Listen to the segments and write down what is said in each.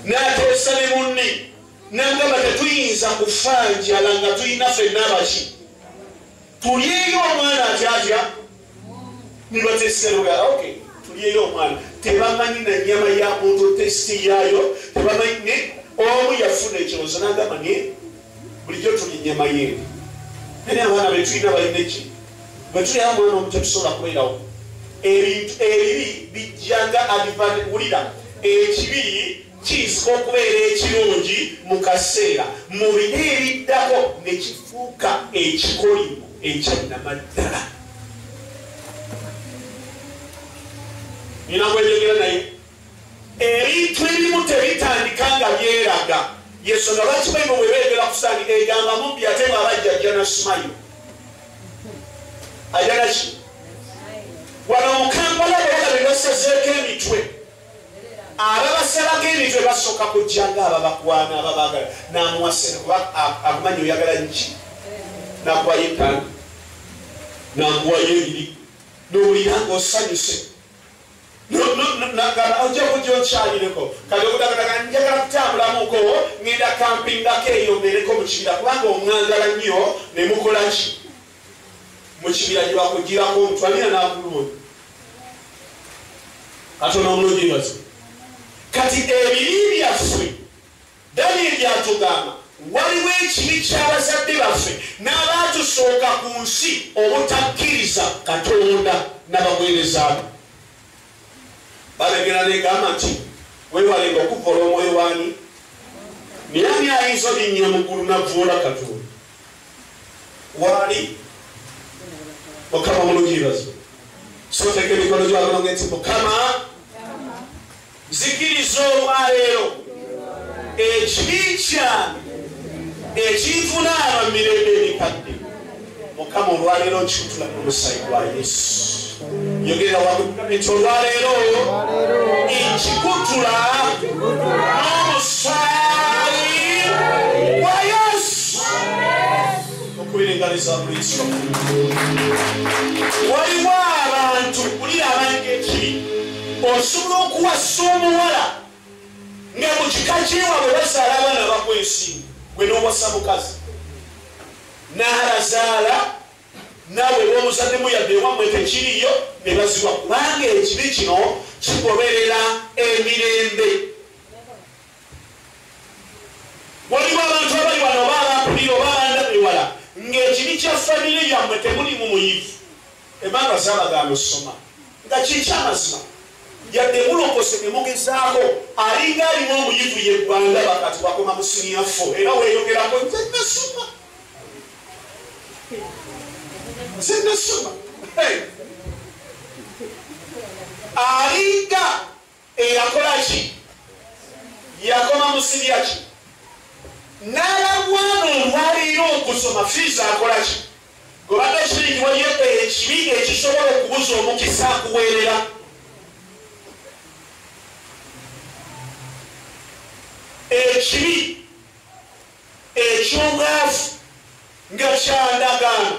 n'ateesa ne munne nagamba tetuyinza kufa njala nga tulina fenna abaki tulyeyo omwana atyatya nibateseroga ok tulyeyo omwana tebamanyi na nyama ya muntu testi yaayo tebamanyi ne omu yafuna ekirowoozo nagamba naye bulijjo tulinye mayembe naye abaana betulina balina eki bwetulina mwana omu tetusobola kubeerawo ebintu ebibi bijjanga adivante kuwulira ekibi kiyinzika okubeera ekirungi mu kaseera mu bina ebiddako ne kifuuka ekikolimo ekyanamaddala nina kweyogera naye Ebintu ebimu tebitandika nga byeraga yesonga lwaki bayibo bwe beegera ku sitaani egamba mubbi ate nga abajja ajja na simayo ajja naki wano mukampala beyala be basazeeko emitwe ababasalako emitwe basooka kujja nga ababakwana ababagala namuwasira kuba akumanyi oyagala nki nakuwayo ettaano nakuwayo ebiri nowulira nga osanyuse nagamba ojja kujja okyalireko kati okudagadaga njagala kutambulamuko ngenda kampingako eyo mbeereko mu kibira kubanga omwagala nnyo ne mukola ki mu kibira gye bakugirako omutwalira n'akulungi katono omulungi bazi kati ebibi byaffe Danyeri atugamba waliwo ekibi ky'abazadde baffe n'abaatusooka ku nsi obutakkiriza Katonda na baweereza be. Balagera n'egamba nti weewalenga okuvvoola omwoyo waani naye ani ayinza olinnya mu ggulu navvoola Katonda waali mukama mulungi bazo soteeka emikono gy'abalongo nti mukama Nzikiriza olwaleero ekibi kyange ekinvunaana mu mirembe emikadde mukama olwaleero nkikutula ku musayi gwa yesu yogera wamugamiti olwaleero nkikutula n'omusaayi gwa yesu okubiringaliza buliso waliwo abantu kulira abange ekibi osobola okuwasa omuwala nga mu kika kyewabwe bazaala abaana bakwa ensimu gwe n'owasa mukazi n'alazaala naawe womuzaddemu yadde ewamwe tekiriyo ne baziwa kubanga ekibi kino kigoberera emirembe waliwo abantu abali wano oba abampulira oba abandabewala ng'ekibi kya famire yammwe temulimu muyivu Emmanuel Ssaabaganda osoma nga kyekyamazima yadde mulokose ne mugezaako alinga alimu omuyivu yeggwanga bakati wakoma mu siniya fo era weeyogerako nze nasoma nze nasoma alinga Eyakola ki? Yakoma musibya ki? N'alagwana olwaleero okusoma fiizi akola ki? Gwebadde okimanyi nti waliyo ekibi ekisobola okubuza omukisa akuweerera ekibi eky'obwavu nga kyandagaano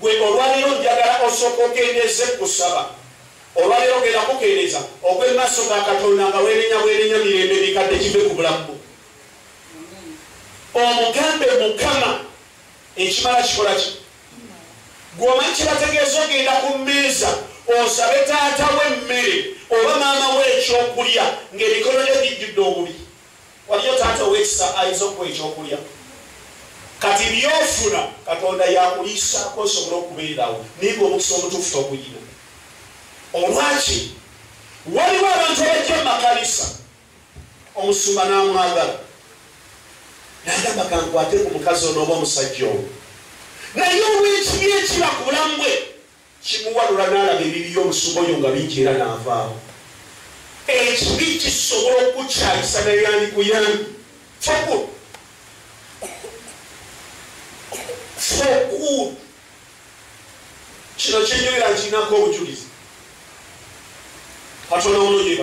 Gwe olwaleero njagala osooke okendeeze ku kusaba. Olwaleero genda kukendeeza ogwe mu maaso ga Katonda nga wenenya bwenenya mirembe emikadde give ku bulamu bwo. Omugambe Mukama ekimala kikola ki? Gwe omanyi kyebategeeza ogenda ku mmeeza osabe taata wo emmere oba maama wo ekyokulya ng'emikono gyo gijjudde obubi. Waliyo taata ow'ekisa ayinza okuwa ekyokulya. Kati by'ofuna Katonda yakuliisaako osobole okubeerawo naye ng'omukisa omutuufu toguyina. Olwaki waliwo abantu abajja mu makanisa omusumba n'amwagala nagamba kankwate ku mukazi onooba omusajja owo naye olw'ekibi ekiba ku bulamu bwe Kimuwalula n'alaba ebibi by'omusumba oyo nga bingi era n'avaawo. Ekibi kisobola okukukyayisa naye yandikuyambye. Foku. Foku. Kino kyenjogera nkirinako obujulizi. Katonda wuno gyeba.